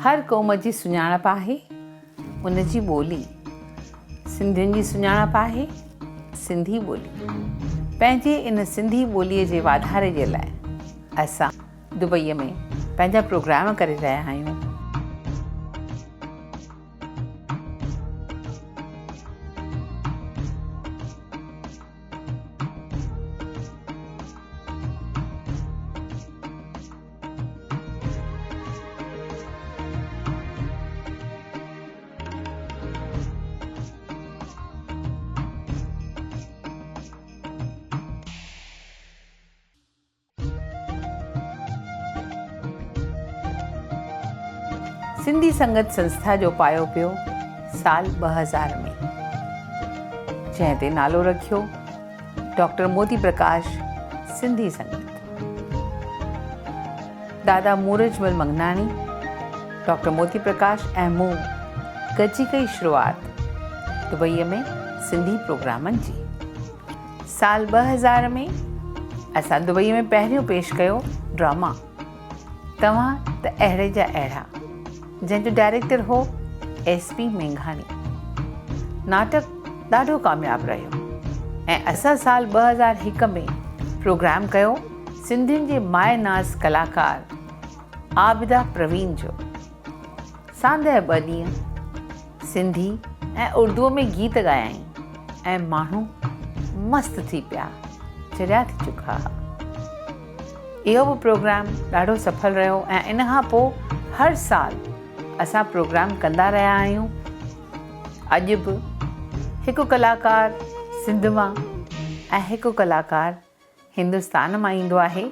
هر قوم جي سڃاڻپ آهي ان جي ٻولي. سنڌين جي سڃاڻپ آهي سنڌي ٻولي. پنهنجي ان سنڌي ٻولي جي واڌاري جي لاء اسان دبئي ۾ پنهنجا پروگرام ڪري رهيا آهيون. سنڌي سنگت سنسٿا جو پايو پيو سال ٻه هزار ۾ جنهن تي نالو رکيو ڊاڪٽر موتي پرڪاش سنڌي سنگت دادا مورجمل منگناڻي ڊاڪٽر موتي پرڪاش ۽ مون گڏجي ڪئي شروعات دبئي ۾ سنڌي پروگرامن جي سال ٻه هزار ۾ اسان دبئي ۾ پهريون پيش ڪيو ڊراما توهان ته اهڙي جا اهڙا. جنهن جو ڊائريڪٽر هو ايس پي مينگهاڻي. ناٽڪ ڏاڍو ڪامياب رهيو ۽ اسان سال ٻه هزار هڪ ۾ پروگرام ڪيو سنڌين جي ماء ناز ڪلاڪار عابده پروين جو. ساندهه ٻه ڏينهن سنڌي ۽ اردوء ۾ گيت ڳايائين ۽ ماڻهو مست ٿي پيا چريا ٿي چڪا ها. اهو به پروگرام ڏاڍو سڦل رهيو ۽ ان کان پوء هر سال اسان پروگرام ڪندا رهيا آهيون. اڄ به هڪ ڪلاڪار سنڌ مان ۽ هڪ ڪلاڪار هندستان مان ايندو آهي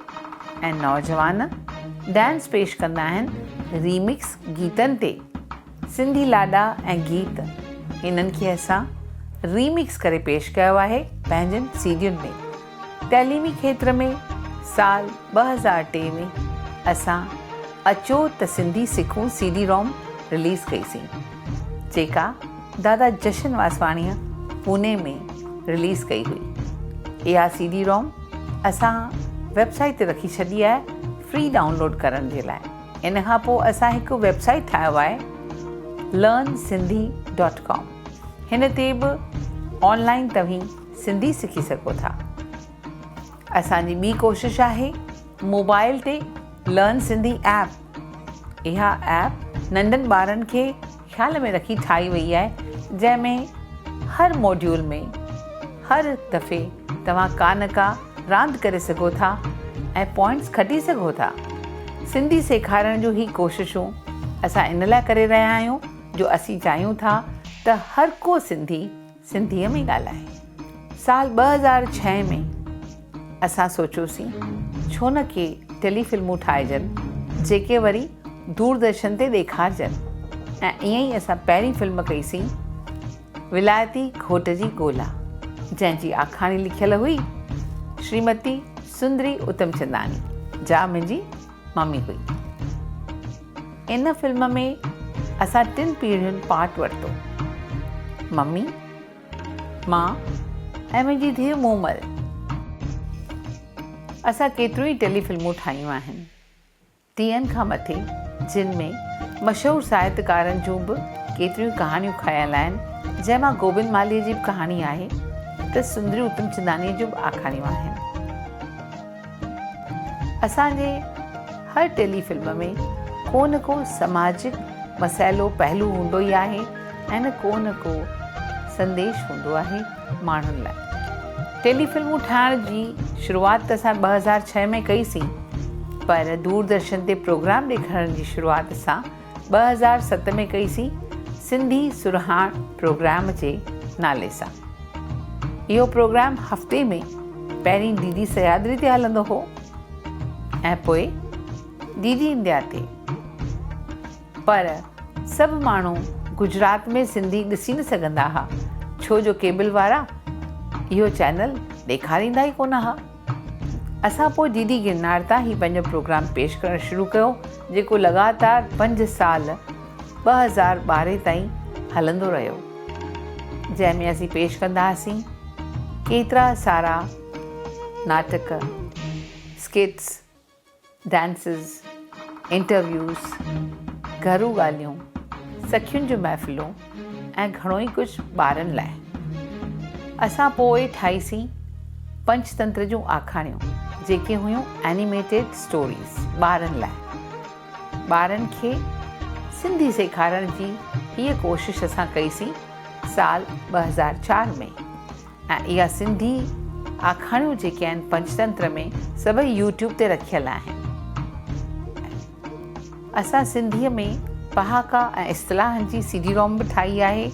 ۽ نوجوان ڊانس پيش ڪندا آهن ريمڪس گيتن تي. سنڌي لاڏا ۽ گيت انهن کي اسان ريمڪس ڪري پيش ڪيو آهي پنهنجن سي ڊين ۾ تعليمي کيتر ۾ سال ٻه هزار ٽي ۾ اسان اچو ته سنڌي سکون سي ڊي روم رليز ڪئي سين جيڪا دادا جشن واسواڻيء پوني ۾ رليز ڪئي هئي اها سي ڊي روم اسان ويب سائيٽ تي رکي ڇڏي آهي فري ڊائونلوڊ ڪرڻ جي لاء ان کان پوء اسان هڪ ويب سائيٽ ٺاهيو آهي لرن سنڌي ڊاٽ ڪام هن تي به آن لائن توهين سنڌي سکي سگهو ٿا اسان جي ٻي ڪوشش آهي موبائل تي لرن سنڌي ايپ اها ايپ ننڍن ٻارن کي خيال ۾ رکي ٺاهي وئي آهي جنهن ۾ هر موڊيول ۾ هر دفعي توهان ڪا نه ڪا راند ڪري سگهو ٿا ۽ پوائنٽس کٽي سگهو ٿا. سنڌي سيکارڻ جون هي ڪوششون اسان ان لاء ڪري رهيا آهيون جو اسين چاهيون ٿا ته هر ڪو سنڌي، سنڌيء ۾ ڳالهائي. سال ٻه هزار ڇهه ۾ اسان سوچيوسين ڇو نه ڪي ٽيلي فلمون ٺاهجن جيڪي وري دوردرشن تي ڏيکارجن ۽ ائين ئي اسان پهرين فلم ڪئيسين ولايتي گهوٽ جي ڳولا جنهن جي آکاڻي لکيل هئي شريمتي سندري اتمچنداڻي جا منهنجي مامي هئي. ان فلم ۾ اسان ٽن پيڙهين پارٽ ورتو. ممي، مان ۽ منهنجي ڌيء مومل. اسان ڪيتريون ئي ٽيلي فلمون ٺاهيون آهن. ٽيهن کان مٿي جن ۾ مشهور ساهتڪارن جون به ڪيتريون ئي ڪهاڻيون کنيل آهن جنهن مان گوبند مالهيء جي به ڪهاڻي آهي ته سندري اتمچندانيء جون به آکاڻيون آهن. اسان جي هر ٽيلي فلم ۾ ڪو نه ڪو سماجڪ مسئلو پهلو هوندو ئي آهي ۽ ڪو نه ڪو سنديش هوندو آهي ماڻهن لاء. ٽيلي فلمون ٺاهڻ جي شروعات ته اسان ٻه هزار ڇهه ۾ ڪئي سين پر دور درشن تي پروگرام ڏيکارڻ جي شروعات اسان ٻه هزار ست ۾ ڪئي سين سنڌي سرهاڻ پروگرام جي نالي سان. اهو پروگرام هفتي ۾ پهرين ڊي ڊي سهيادري تي هلندو هو ۽ پوء ڊي ڊي انڊيا تي پر سڀ ماڻهو گجرات ۾ سنڌي ڏسي نه سگهندا ها ڇو جو ڪيبل وارا اهو چينل ڏيکاريندا ئي ڪونه ها. اسان پوء ڊي ڊي گرنار تان هي پنهنجو پروگرام پيش ڪرڻ شروع ڪيو جيڪو لڳاتار پنج سال ٻه هزار ٻارهن تائين هلندو رهيو جنهن ۾ اسين پيش ڪندا هئاسين ڪيترا سارا ناٽڪ اسڪيٽس ڊانسز، انٽرويوز، گهرو ڳالهيون، سکين جون محفلون ۽ گهڻو ئي ڪجهه ٻارن لاء. اسان پوء ٺاهيسين پنچتنتر جون آکاڻيون جيڪي هيون Animated Stories ٻارن لاء. ٻارن کي سنڌي سيکارڻ جي هيء ڪوشش اسان ڪئي سين سال ٻه هزار چار ۾. ۽ اها سنڌي آکاڻيون جيڪي آهن پنچتنتر ۾ سڀئي يوٽيوب تي رکيل آهن. اسان سنڌيء ۾ پهاڪا ۽ اصطلاحن جي سي ڊي روم به ٺاهي آهي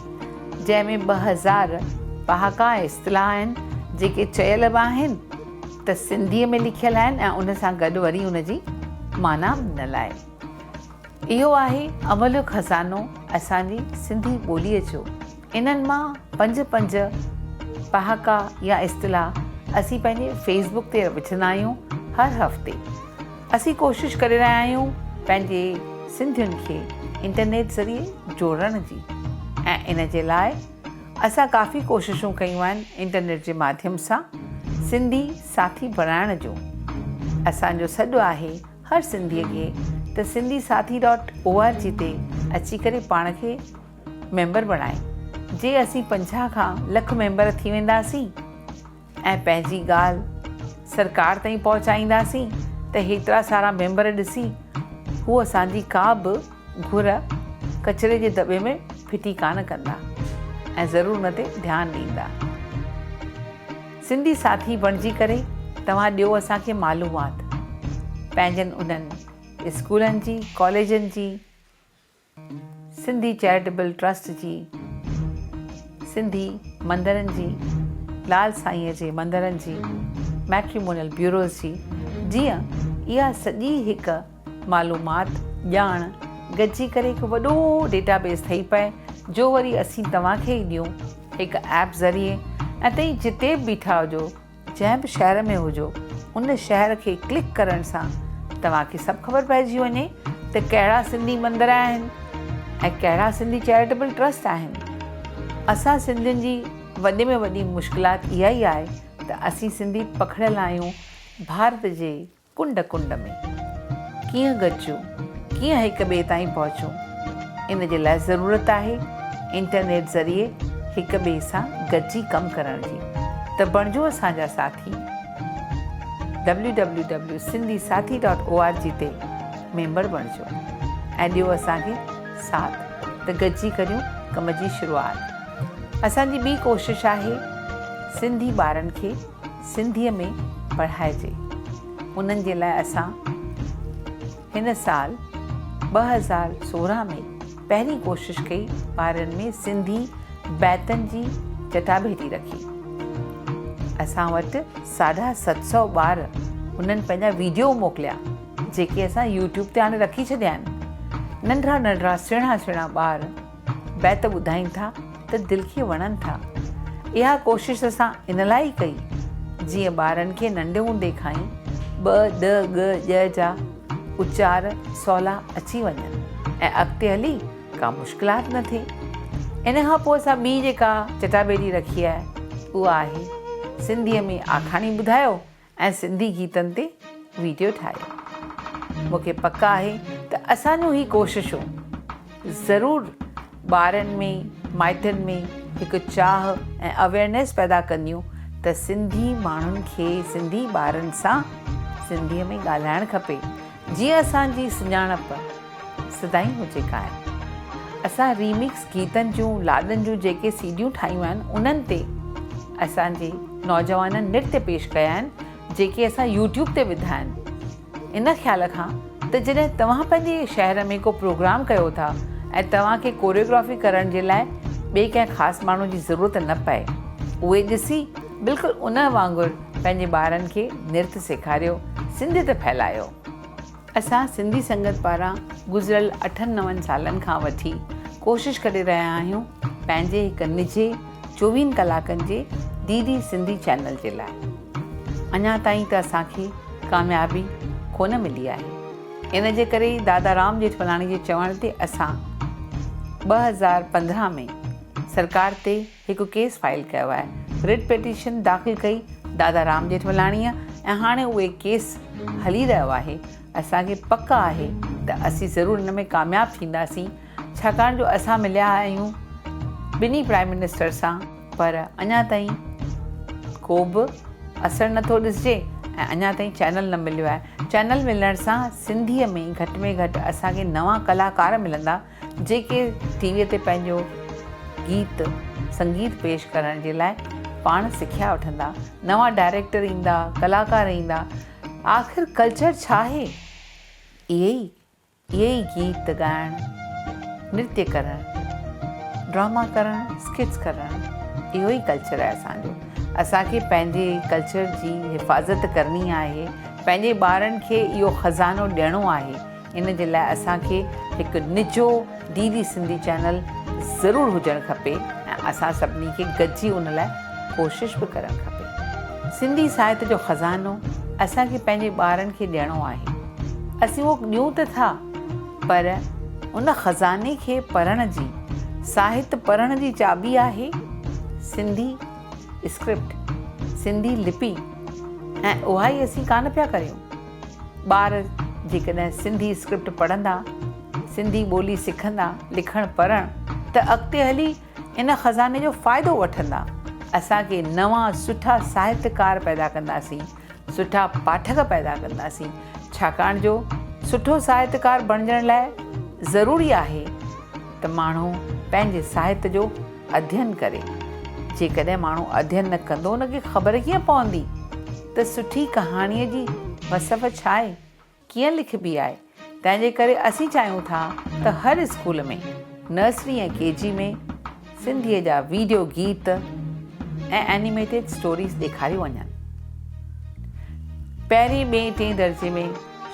جنهن ۾ ٻه هزار پهاڪا ۽ اصطلاح آهن جيڪي چيل به آهن ته سنڌيء ۾ لکيل آهن ۽ ان سان گڏ وري ان جي معنيٰ به ڏنل آهي. اهو آهي املهه خزانو اسان جي سنڌي ٻوليء جو. انهن مان پنج پنج پهاڪا يا اصطلاح اسين پنهنجي فيس بڪ تي وجهندا آهيون هر هفتي. اسين ڪوشش ڪري رهيا آهيون پنهنجي سنڌين کي انٽرنيٽ ذريعي جوڙڻ جي ۽ ان جي لاء اسان ڪافي ڪوششون ڪيون آهن انٽرنيٽ جي ماڌيم سان سنڌي ساٿي بڻائڻ جو. اسان جو سڏ آهي هر سنڌي کي ته Sindhi Saathi dot O R G تي اچي ڪري پاڻ کي ميمبر بڻائي جي اسين پنجاهه کان لک ميمبر ٿي وينداسين ۽ پنهنجي ڳالهه سرڪار تائين پهچائينداسين ته هيترا سارا ميمبر ڏسي هو اسان جي ڪا به گهر ڪچري جي دٻي ۾ ڦٽي ڪانه ڪندا ۽ ضرور ان تي ڌيان ڏيندا سنڌي ساٿي بڻجي ڪري توهان ڏيو اسان کي معلومات پنهنجن انهن اسڪولن جي ڪاليجن جي سنڌي چيرٽيبل ٽرسٽ جي سنڌي مندرن جي لال سائينء جي مندرن جي ميٽريمونيل بيوروز جي جيئن اها سڄي هڪ معلومات ڄاڻ گڏجي ڪري هڪ وڏو ڊيٽا بيس ٺهي پئي جو وري اسين توهان کي ئي ڏيون هڪ ايپ ذريعي ۽ تهين جتي به بيٺا هجو جنهن به شهر ۾ هجو ان شهر کي ڪلڪ ڪرڻ سان توهان کي سڀ خبر پئجي وڃي ته ڪهڙا سنڌي مندر آهن ۽ ڪهڙا سنڌي چيريٽيبل ٽرسٽ آهن اسان سنڌين جي وڏي ۾ وڏي مشڪلات اها ئي آهي ته اسين سنڌي پکڙيل آهيون ڀارت جي ڪنڊ ڪنڊ ۾، ڪيئن گڏجون، ڪيئن هڪ ٻئي تائين پهچون، ان جي لاء ضرورت آهي انٽرنيٽ ذريعي هڪ ٻئي سان گڏجي ڪم ڪرڻ جي ته بڻجو اسان جا ساٿي www.sindhisaathi dot O R G تي ميمبر بڻجو ۽ ڏيو اسان کي ساٿ ته گڏجي ڪريون ڪم جي شروعات اسان جي ٻي ڪوشش آهي سنڌي ٻارن کي سنڌيء ۾ پڙهائجي انهن جي لاء اسان هن سال ٻه هزار سورهن ۾ پهرين ڪوشش ڪئي ٻارڙن ۾ سنڌي بيتن جي چٽاڀيٽي رکي اسان وٽ ساڍا ست سؤ ٻار انهن پنهنجا ويڊيو موڪليا جيڪي اسان يوٽيوب تي آڻي رکي ڇڏيا آهن ننڍڙا ننڍڙا سهڻا سهڻا ٻار بيت ٻڌائين ٿا ته دل کي وڻن ٿا. اها ڪوشش اسان ان لاء ئي ڪئي جيئن ٻارن کي ننڍ هوندي کان ئي ٻ، ڏ، ڳ، ڄ جا اچار سولا اچي وڃن ۽ اڳتي هلي ڪا مشڪلات نه ٿئي. ان کان پوء اسان ٻي جيڪا چٽاڀيٽي رکي آهي اها آهي سنڌيء ۾ آکاڻي ٻڌايو ۽ سنڌي گيتن تي ويڊيو ٺاهيو مون کي پڪ آهي ته اسان جون هي ڪوششون ضرور ٻارن ۾ مائٽن ۾ هڪ چاهه ۽ اويئرنيس پيدا ڪنديون ته سنڌي ماڻهن کي سنڌي ٻارن سان سنڌي ۾ ڳالهائڻ کپي جيئن اسان جي سڃاڻپ سدائين هجي قائم. اسان ريمڪس گيتن جون لاڏن جون جيڪي سي ڊيون ٺاهيون آهن انهن تي اسان جي نوجوانن نرت پيش ڪيا آهن جيڪي اسان يوٽيوب تي وڌا آهن ان خيال کان ته جڏهن توهان پنهنجي شهر ۾ ڪو پروگرام ڪيو ٿا ۽ توهان کي ڪوريوگرافي ڪرڻ جي لاء ٻئي ڪنهن خاص ماڻهو جي ضرورت نه پئي اهي ڏسي بلڪل ان وانگر پنهنجي ٻارن کي نرت سيکاريو سنڌيت ڦهلايو. اسان سنڌي سنگت پاران گذريل اٺن نون سالن کان وٺي ڪوشش ڪري رهيا آهيون پنهنجي هڪ نجي چووين ڪلاڪن جي ڊي ڊي سنڌي چينل جي لاء اڃا تائين ته اسان کي ڪاميابي ڪونه ملي آهي ان جي ڪري ئي دادا رام ڄيٺملاڻي جي چوڻ تي اسان ٻه هزار پندرهن ۾ سرڪار تي هڪ ڪيس فائل ڪيو آهي، رٽ پٽيشن داخل ڪئي دادا رام ڄيٺملاڻيء ۽ هاڻي اهي ڪيس هلي رهيو آهي، اسان کي پڪ آهي ته اسين ضرور ان ۾ ڪامياب ٿينداسين، ڇاڪاڻ جو اسان مليا آهيون ٻنهي پرائيم منسٽر سان، پر اڃا تائين ڪو به اثر نه ٿو ڏسجي ۽ اڃا تائين چينل نه مليو آهي، چينل ملڻ سان سنڌيء ۾ گهٽ ۾ گهٽ اسان کي نوان ڪلاڪار ملندا، جيڪي ٽي ويء تي پنهنجو گيت سنگيت پيش ڪرڻ جي لاء پاڻ سکيا وٺندا، نوان ڊائريڪٽر ايندا، ڪلاڪار ايندا، آخر ڪلچر ڇا آهي؟ اهي ئي اهي ئي گيت ڳائڻ، نرتيه ڪرڻ، ڊراما ڪرڻ، اسڪٽس ڪرڻ، اهو ئي ڪلچر آهي اسان جو. اسان کي پنهنجي ڪلچر جي حفاظت ڪرڻي آهي، پنهنجي ٻارن کي اهو خزانو ڏيڻو آهي. ان جي لاء اسان کي هڪ نجو ڊي ڊي سنڌي چينل ضرور هجڻ کپي ۽ اسان سڀني کي گڏجي ان لاء ڪوشش به ڪرڻ کپي. سنڌي ساهت جو خزانو اسان کي پنهنجي ٻارن کي ڏيڻو آهي. اسين اهو ڏيون ته ٿا پر ان خزاني کي پڙهڻ جي، ساهت پڙهڻ جي چاٻي آهي سنڌي اسڪرپٽ، سنڌي لپي ۽ اها ئي اسين ڪانه پيا ڪريون. ٻار جيڪڏهن سنڌي اسڪرپٽ پڙهندا، سنڌي ٻولي سکندا، لکڻ پڙهڻ ته اڳتي هلي ان خزاني جو فائدو وٺندا. اسان ڪي نوان سٺا ساهتڪار پيدا ڪنداسين، سٺا پاٺڪ پيدا ڪنداسين، ڇاڪاڻ جو سٺو ساهتڪار بڻجڻ لاء ضروري آهي ته ماڻهو پنهنجي ساهت جو اڌين ڪري. جيڪڏهن ماڻهو اڌين نه ڪندو ان کي خبر ڪيئن پوندي؟ ته سٺي ڪهاڻيء جي وصف ڇا آهي، ڪيئن لکبي آهي، تنهن جي ڪري اسين چاهيون ٿا ته هر اسڪول ۾، نرسري ۽ ڪي جي ۾، سنڌيء جا ويڊيو گيت ۽ اينيميٽيڊ اسٽوريز ڏيکاريون وڃن. پهرين، ٻئين، ٽئين درجي ۾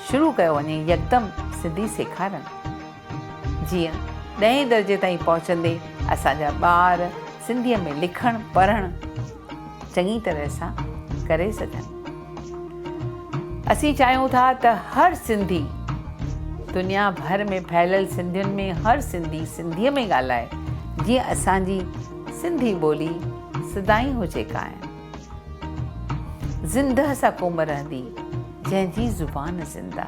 شروع ڪيو وڃي يڪدم سنڌي سيکارڻ. جيئن ڏهين درجي تائين پهچندي اسان جا ٻار سنڌيء ۾ لکڻ پڙهڻ چڱي طرح سان ڪري سگهن. اسين چاهيون ٿا ته هر سنڌي دنيا ڀر ۾ ڦهليل سنڌين ۾ هر سنڌي سنڌيء ۾ ڳالهائي جيئن اسان جي سنڌي ٻولي سدائين هجي قائم زندهه سا قوم رهندي جنهن جي زبان زنده.